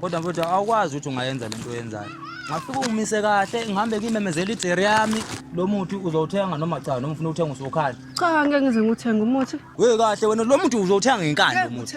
kodwa mfowethu awukwazi ukuthi ungayenza le nto oyenzayo ngafike ungimise kahle ngihambe ngimemezela ijeri yami lo muthi uzowuthenga noma cha noma ufuna ukuthenga usuwukhala cha ngeke ngize ngiwuthenge umuthi we kahle wena lo muthi uzowuthenga ngenkani lo muthi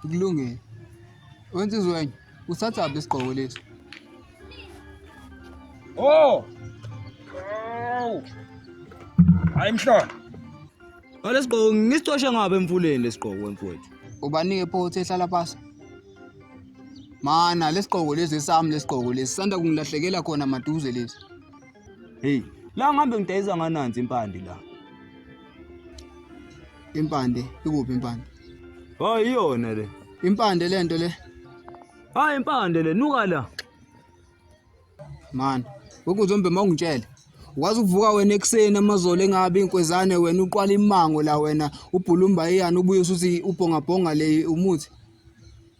Kulungile. Wenza izwenye. Usathatha isigqoko lesi. Oh! Oh! Hayi mhlolo. Ngalesigqoko ngisicoshe ngabe emfuleni lesigqoko wemfowethu. Ubanike phothi ehlala pasi. Mana lesigqoko lesi sami lesigqoko lesi sanda kungilahlekela khona maduze lesi. Hey, la ngihambe ngidayisa ngananzi impandi la. Impande ikuphi impande? Hayi iyona le. Impande lento le. Hayi impande le nuka la. Man, ukuzombe mawungitshele. Wazi uvuka wena ekuseni amazolo engabe inkwezane wena uqwala imango la wena ubhulumba iyani ubuye usuthi ubhonga bhonga le umuthi.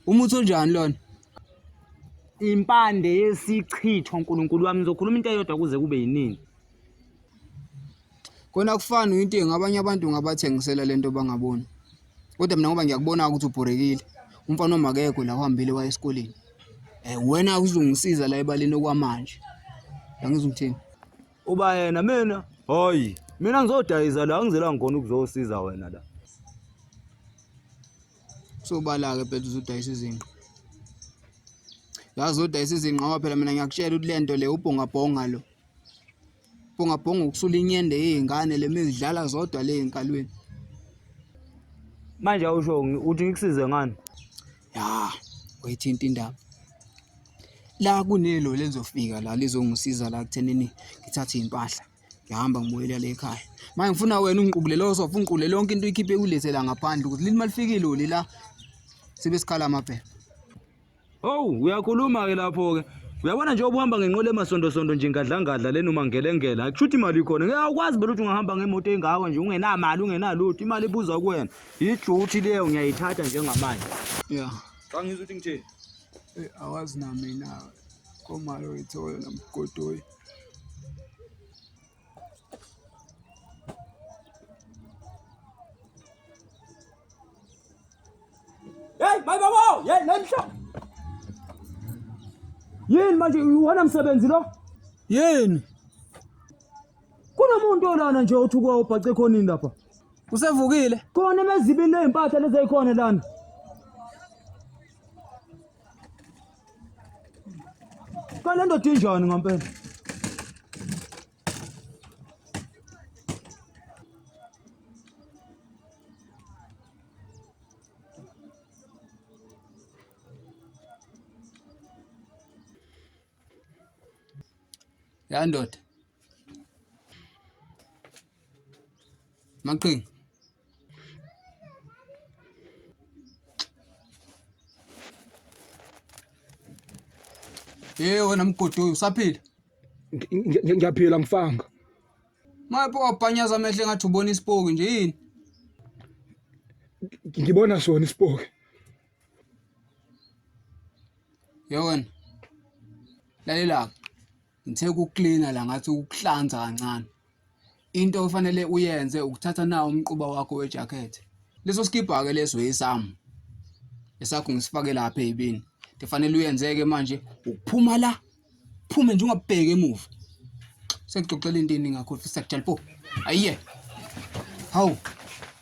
Umuthi onjani lona? Impande yesichitho uNkulunkulu wami ngizokhuluma into eyodwa kuze kube yinini. Kona akufani uyintengo abanye abantu ungabathengisela le nto bangaboni. Kodwa mina ngoba ngiyakubona ukuthi ubhorekile umfana wami akekho la uhambile waya esikoleni. Eh wena uzongisiza la ebaleni okwamanje. Angizwa ngithini. Uba yena mina hayi mina ngizodayisa la ngizela ngikona ukuzosiza wena la. Sobala-ke phela uzodayisa izinqa. Yazi uzodayisa izinqa ngoba phela mina ngiyakutshela ukuthi le nto le ubhongabhonga lo. Bhonga bhonga ukusula inyende yey'ngane le mizidlala zodwa le y'nkalweni. Manje awusho ngi- uthi ngikusize ngani? Ya, wayithinta indaba. La kunelo lelizofika la lizongisiza la kuthenini ngithathe iy'mpahla. Ngihamba ngibuyela le ekhaya. Manje ngifuna wena ungiqubulele osofa, ungiqubulele yonke into uyikhiphe uyilethela ngaphandle ukuthi lini malifikile uli la sibe sikhala amaphepha. Owu uyakhuluma-ke lapho-ke uyabona nje obuhamba ngenqola emasondosonto nje ngadlangadla lena umangelengela akusho ukuthi imali ikhona ngeke awukwazi vele ukuthi ungahamba ngemoto engako nje ungenamali ungenalutho imali ibuza kuwena yijuthi leyo ngiyayithatha njengamanje ya xa ngizwa ukuthi ngitheni eh, awazi namina komalo wethu oyona mgodoyi Hey, my baba! Hey, namhla. Yini manje uwona msebenzi lo? Yini? Kunomuntu olana nje othi kwa ubhace khonini lapha. Usevukile? Khona emezibini lezimpahla lezeyikhona lana. Kale ndoda injani ngampela? Ya ndoda. Maqhinga. Hey wena mgodoyi usaphila? Ngiyaphila mfanga. Mapho wabhanyaza amehlo ngathi ubona isipoki nje yini? Ngibona sona isipoki. Yewena. Lalela. Ngithe ukuklina la ngathi ukuhlanza kancane. Into ofanele uyenze ukuthatha nawo umquba wakho wejakhethi. Leso sikibha-ke leso esami esakho ngisifake lapha ey'bini. Into efanele uyenze-ke manje ukuphuma la phume nje ungabheki emuva. Sengixoxela into eningi ngakho fisa kujalpo. Ayiye. Hawu.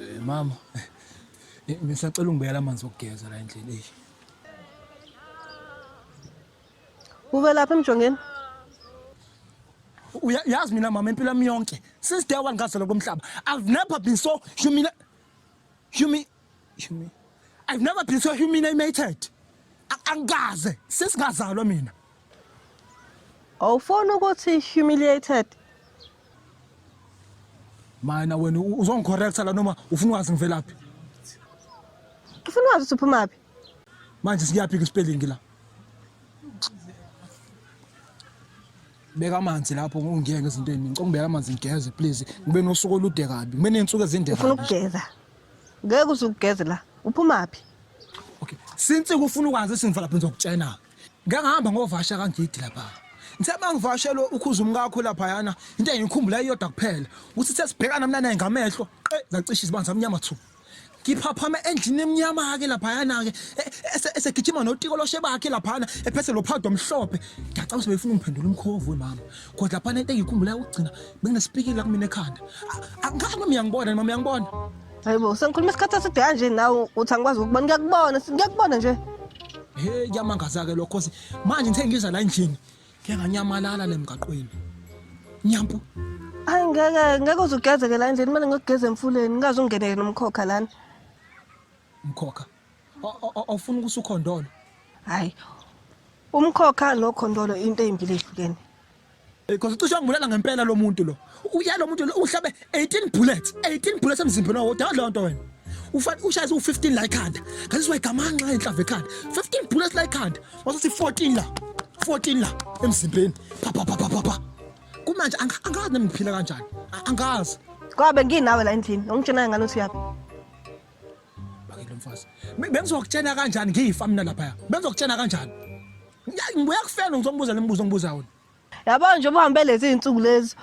Eh, mama eh, ngisacela ungibekela amanzi okugeza la endlini eyi Uve lapha emjongeni. Uya- yazi mina mama impilo yami yonke since day one ngazalwa komhlaba i've never been so humiliated Humi, humi. I've never been so humiliated. Angikaze sesingazalwa mina. Awufona ukuthi humiliated. Mina wena uzongicorrecta la noma ufuna wazi ngivelaphi? Ufuna wazi uphuma phi? Manje siyaphi ke spelling la? beka amanzi lapho ungiyeke ngezinto eziningi ngicela ubeka amanzi ngigeze please ngibe nosuku olude kabi ngibe ney'nsuku ezinde ufuna kabi ukugeza ngeke uze ugeze la uphumaphi okay since kufuna ukwazi isinto lapho ngizokutshena ngeke ngihamba ngovasha kangidi lapha ngithe uma ngivashelo ukhuza umkakho laphayana into engiyikhumbula iyodwa kuphela ukuthi sesibhekana mna naye ngamehlo qe zacisha izibani zamnyama thu ngiphaphame endlini emnyama-ke laphayana-ke e, e, esegijima notiko loshe bakhe laphana ephethe lo phawudo omhlophe ngiyacanga ukuthi beyifuna ungiphendula umkhovu wemama kodwa laphana into engiyikhumbulayo ukugcina benginesipikile la kumina ekhanda angazi noma uyangibona mama uyangibona hayi bo sengikhuluma isikhathi eside kanje nawe uthi angikwazi ukubona ngiyakubona ngiyakubona nje he kuyamangaza-ke lokho manje ngithe ngiza la endlini Ngeke nganyamalala le mgaqweni. Nyampu. Hayi ngeke ngeke uzugezeke la endlini kumele ngiyogeza emfuleni ngaze ungeneke nomkhokha lana. Mkhokha. O- o- o- Awufuni ukuthi ukhondolo. Hayi. Umkhokha nokhondolo into ezimbili ezihlukene. Eh, Cause ucishe wangibulala ngempela lo muntu lo. uya lo muntu uhlabe 18 bullets 18 bullets emzimbeni wawo dawudla lonto wena ufana ushayise u15 la ekhanda ngazizwa igamanxa enhlava ekhanda 15 bullets la ekhanda wasuthi 14 la 14 la emzimbeni pha pha pha pha pha kumanje anga- angazi nami ngiphila kanjani A- angazi Kwabe nginawe la endlini. Ongitshena ngani uthi yaphi? bakile mfazi Be- bengizokutshena kanjani ngiyifa mina lapha bengizokutshena kanjani Ya- ngibuya kufela ngizombuza lemibuzo ongibuza wona yabo nje uhambe lezi iy'nsuku lezi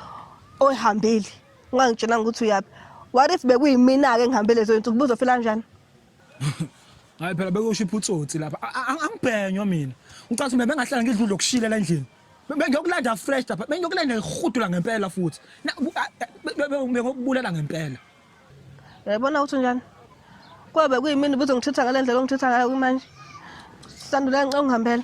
oyihambile ungangitshelanga ukuthi uyaphi what if bekuyimina-ke ngihambe lezo y'nsuku buzofela njani hayi phela bekusho iphutsotsi lapha angibhenywa mina ucathi mina bengahlala ngidla udla okushile la endlini bengiyokulanda fresh lapha bengiyokulanda ngihudula ngempela futhi bengokubulala ngempela yayibona ukuthi njani kwabe kuyimini buze ngithitha ngale ndlela ongithitha ngayo kumanje sandula ngicela ungihambela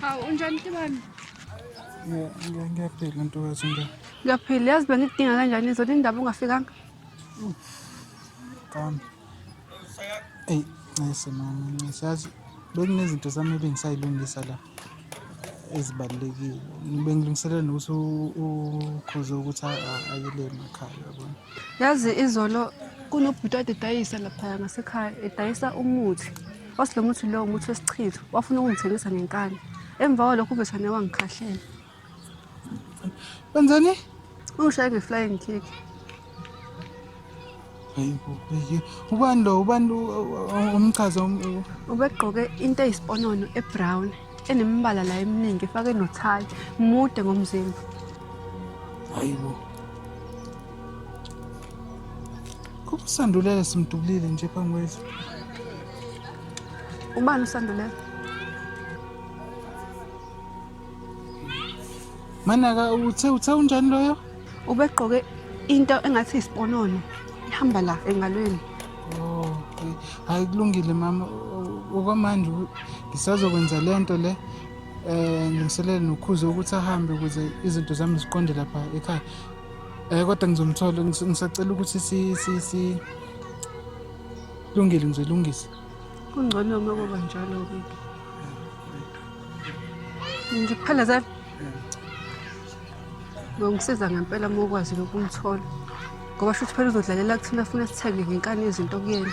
Hawu unjani Tibani? Ngiya- ngiya- Ngiyaphila ntokazi nje. Ngiyaphila yazi bengikudinga kanjani izolo indaba ungafikanga. Kami. Eyi, ncese mama, ncese. Yazi bekunezinto zami ebingisayilungisa la. ezibalulekile bengilungiselela nokuthi ukhoze ukuthi ayele emakhaya yabona yazi izolo kunobhuti ade edayisa laphaya ngasekhaya edayisa umuthi wathi lo muthi lowo umuthi wesichitho wafuna ukungithengisa ngenkani emva kwalokho uvethane wangikhahlela Wenzani? Ushaye nge-flying kick. Hayi bo, hayi. Ubani lo? Ubani lo umchaza um, um, Ubegqoke into eyisiponono ebrown enemibala la eminingi efake nothayi mude ngomzimba. hayi bo. Kusandulela simdubulile nje phambi kwethu. Ubani usandulela? Manaka uthe uthe unjani loyo? Ubegqoke into engathi isiponono ihamba la engalweni. Oh, okay. Hayi kulungile mama. Okwamanje ngisazokwenza lento le. Eh ngiselele nokhuze ukuthi ahambe ukuze izinto zami ziqonde lapha ekhaya. Eh kodwa ngizomthola ngisacela ukuthi si si si lungile ngizolungisa. kungcono uma kuba njalo ke nje kuphela za ngongisiza ngempela uma ukwazi lokumthola ngoba shuthi phela uzodlalela kuthina funa sithenge ngenkani izinto kuyena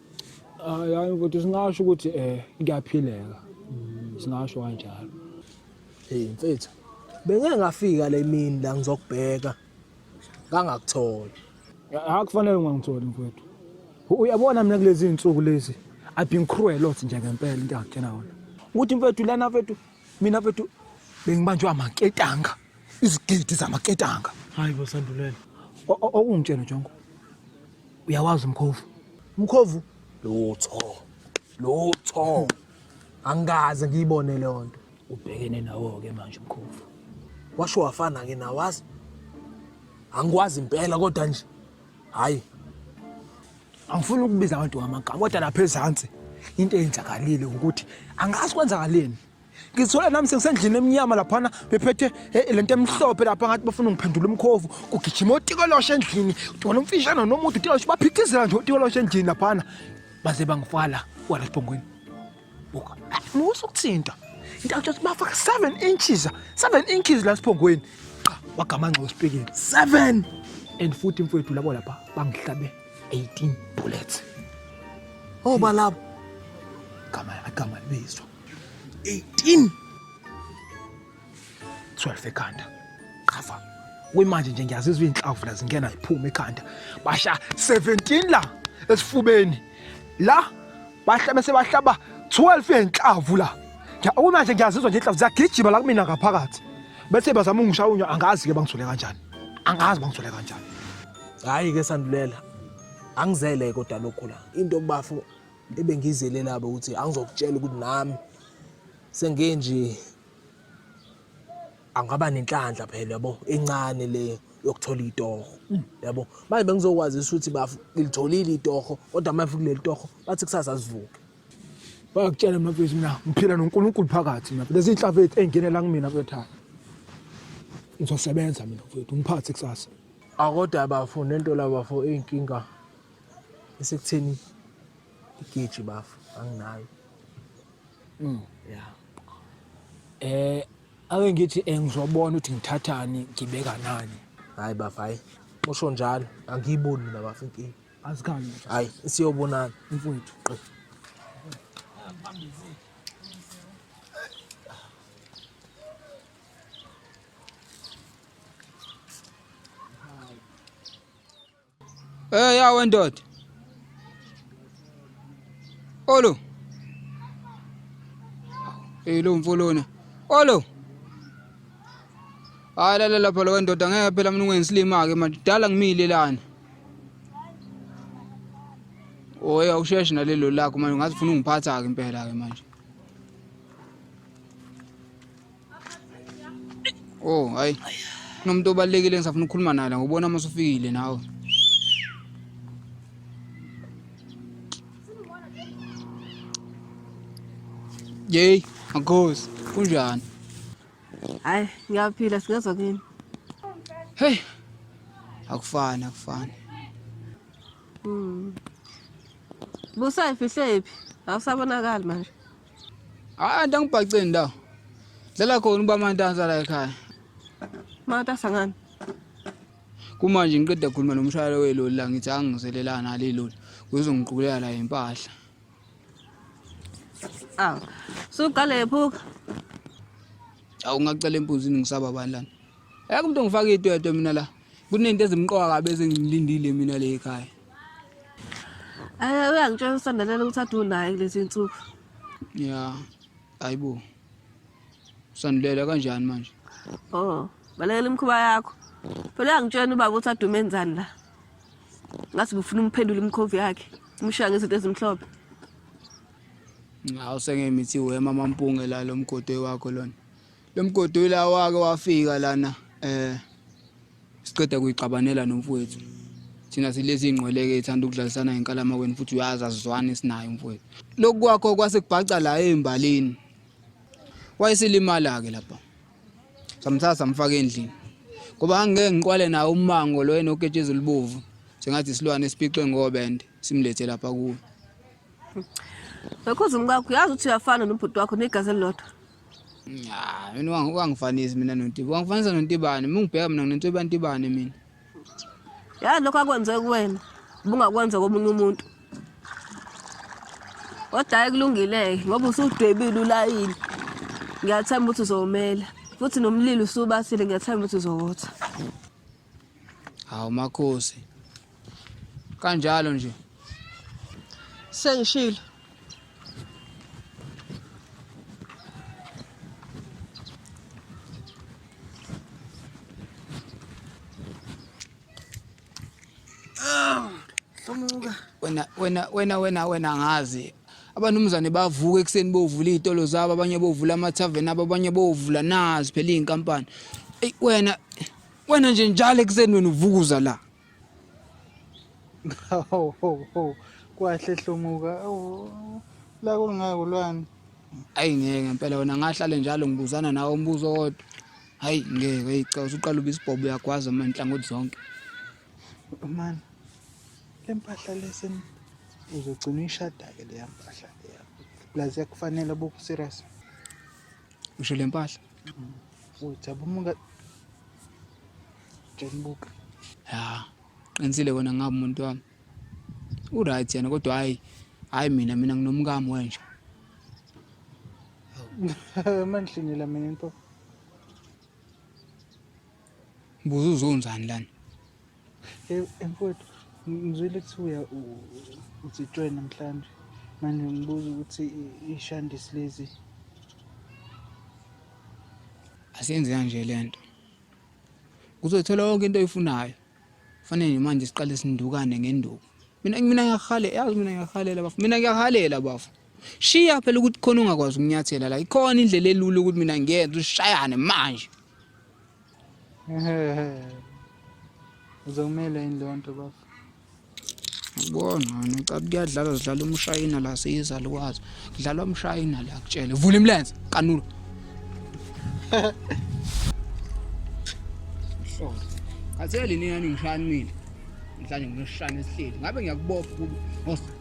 hayi mfowethu singasho ukuthi um kuyaphileka singasho kanjalo heyi mfethu bengeke ngafika le mini la ngizokubheka ngangakutholi hayi kufanele ungangitholi mfowethu uyabona mina kulezi iy'nsuku lezi i've been cruel othi nje ngempela into angitshena yona ukuthi mfethu lana mfethu mina mfethu bengibanjwe amaketanga izigidi zamaketanga hayi bo sandulela okungitshela jongo uyawazi umkhovu umkhovu lutho lutho angikaze ngiyibone leyo nto ubhekene nawo-ke manje umkhovu washo wafana-ke nawazi angikwazi impela kodwa nje hhayi angifuni ukubiza abantu ngamagama kodwa lapha ezansi into eyenzakalile ukuthi angazi kwenzakaleni ngizithola nami sengisendlini emnyama laphana bephethe eh, lento emhlophe lapha ngathi bafuna ngiphendula umkhovu kugijima otikolosha endlini wona umfishana nomuntu utikolosh baphithizela nje otikolosha endlini laphana baze bangifala wala sibhongweni buka musa ukuthinta into athi bafaka 7 inches 7 inches la siphongweni cha wagamanxa wesipikile 7 and futhi mfowethu labo lapha bangihlabe 18 bullets oba oh, labo gama agama libizwa 18 12 ekhanda qhafa kuyimanje nje ngiyazizwa izinhlavu la zingena ziphuma ekhanda basha 17 la esifubeni la bahla bese bahlaba 12 yenhlavu la kuyimanje ngiyazizwa nje inhlavu ziyagijima la kumina ngaphakathi bese bazama ungishaya unyo angazi ke bangithole kanjani angazi bangithole kanjani hayi ke sandulela angizele kodwa lokhu la into bafo ebengizele laba ukuthi angizokutshela ukuthi nami sengike nje angaba nenhlanhla phela yabo encane le yokuthola itoho yabo manje bengizokwazisa ukuthi bafu ngilitholile itoho kodwa manje kuleli toho bathi kusasa sivuke bayakutshela mafethu mina ngiphila noNkulunkulu phakathi mina lezi inhlava ethu engenela kumina mfethu ngizosebenza mina mfethu ngiphathe kusasa akodwa bafo nento labafo inkinga Esekutheni igeji bafo anginayo. Mm. Yeah. Eh ake ngithi eh, ngizobona ukuthi ngithathani ngibeka nani. Hayi bafo hayi. Usho njalo angiyiboni mina bafo inkinga. Azikhani. Hayi siyobonana mfowethu. Eh ya wendoda. Olo. Eh lo mfolona. Olo. Hayi lala lapha lo wendoda ngeke phela mina ungensilima ke manje dala ngimile lana. Oya usheshe nalelo lakho manje ngathi ufuna ungiphatha ke impela ke manje. Oh, hayi. Kunomuntu obalekile ngisafuna ukukhuluma naye la ngobona uma usufikile nawe. Yey, makhosi, kunjani? Hayi, ngiyaphila singezwa kini. Hey. Akufani, akufani. Mm. Busa ifihle iphi? Awusabonakali manje. Hayi anti angibhaceni ndawo. Dlala khona uba mantansa la ekhaya. Matasa ngani? Kumanje ngiqeda khuluma nomshayeli weloli la ngithi angizelelana nale loli. Uzongiqukulela la impahla. Aw. Suqale phuka. Awu ngacela empuzini ngisaba bani lana. Ayakho umuntu ongifaka idwedwe mina la. Kunento ezimqoka kabi ezingilindile mina le ekhaya. Eh uyangitshela usandelela ukuthi adu naye kulezi insuku. Yeah. Ayibo. Sandelela kanjani manje? Oh, balekela imkhuba yakho. Phela uyangitshela ubaba ukuthi adume enzani la. Ngathi ngifuna umphendula imkhovu yakhe. Umshaya ngezinto ezimhlophe. Ngawu sengemithi wema mampunge la lomgodo wakho lona. Lo mgodi ila wake wafika lana eh siqeda kuyixabanela nomfowethu. Thina silezi ingqweleke ithanda ukudlalisana ngenkalama wena futhi uyazi azizwani sinayo mfowethu. Lokhu kwakho kwase kubhaca la embalini. Wayeselimala ke lapha. Samthatha samfaka endlini. Ngoba angeke ngiqwale nawo umango lo enoketshezi libovu. Sengathi isilwane esiphixe ngobende simlethe lapha kuwe. Ngakho zimkakho uyazi ukuthi uyafana nobhuti wakho negazi elilodwa. Ah, mina wangi wangifanisi mina noNtiba. Wangifanisa noNtibane. Mungibheka mina nginento ebantibane mina. Ya lokho akwenze kuwena. Ubungakwenza komunye umuntu. Kodwa hayi kulungile ngoba usudwebile ulayini. Ngiyathemba ukuthi uzomela. Futhi nomlilo usubasile ngiyathemba ukuthi uzowotha. Hawu makhosi. kanjalo nje sengishilo wena wena wena wena wena ngazi abanumzane bavuka ekuseni bovula izitolo zabo abanye bovula amathaveni abo abanye bovula nazi phela izinkampani eyi wena wena nje njalo ekuseni wena uvukuza la Hawu hawu hawu kwahle hlomuka la kulingako lwani ayi ngeke ngempela wena ngahlale njalo ngibuzana nawe umbuzo owodwa hayi ngeke ayi cha usuqala uba isibhobo uyagwaza manje nhlangothi zonke man le mpahla lesi uzogcina uyishada-ke leya mpahla leya plus yakufanele boku-serious usho le mpahla Ujabuka Jabuka. Ya, qinisile wena ngabe umuntu wami. U right yena kodwa hayi hayi mina mina nginomkami wenja. Manhlinela mina into. Buza uzonzani lana? Mfowethu, ngizwile kuthiwa uzitshwe namhlanje. Manje ngibuza ukuthi ishandisi lezi. Asenze kanje le nto. Uzothola yonke into oyifunayo. Fanele nje manje siqale sindukane ngenduku. Mina mina ngiyahalela, yazi mina ngiyahalela bafo. Mina ngiyahalela bafo. Shiya phela ukuthi khona ongakwazi ukunyathela la. Ikhona indlela elula ukuthi mina ngiyenze ushayane manje. Uzomela yini leyo nto bafo? Ubona ngicabanga kuyadlalwa zidlala umshayina la siyizalukwazi. Kudlalwa umshayina la kutshele. Vula imilenze kanulu. Hlolo. Katheli nina ningishaya nimile. Mhlanje ngishaya nesihleli. Ngabe ngiyakubopha kubo.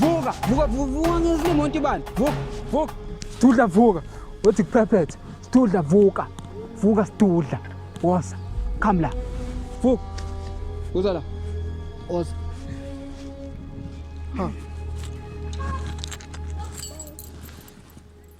vuka vuka vuka ngizile imoto ibani vuka vuka sidudla vuka wethi kuphephethe sidudla vuka vuka sidudla wosa come la vuka uza la wosa ha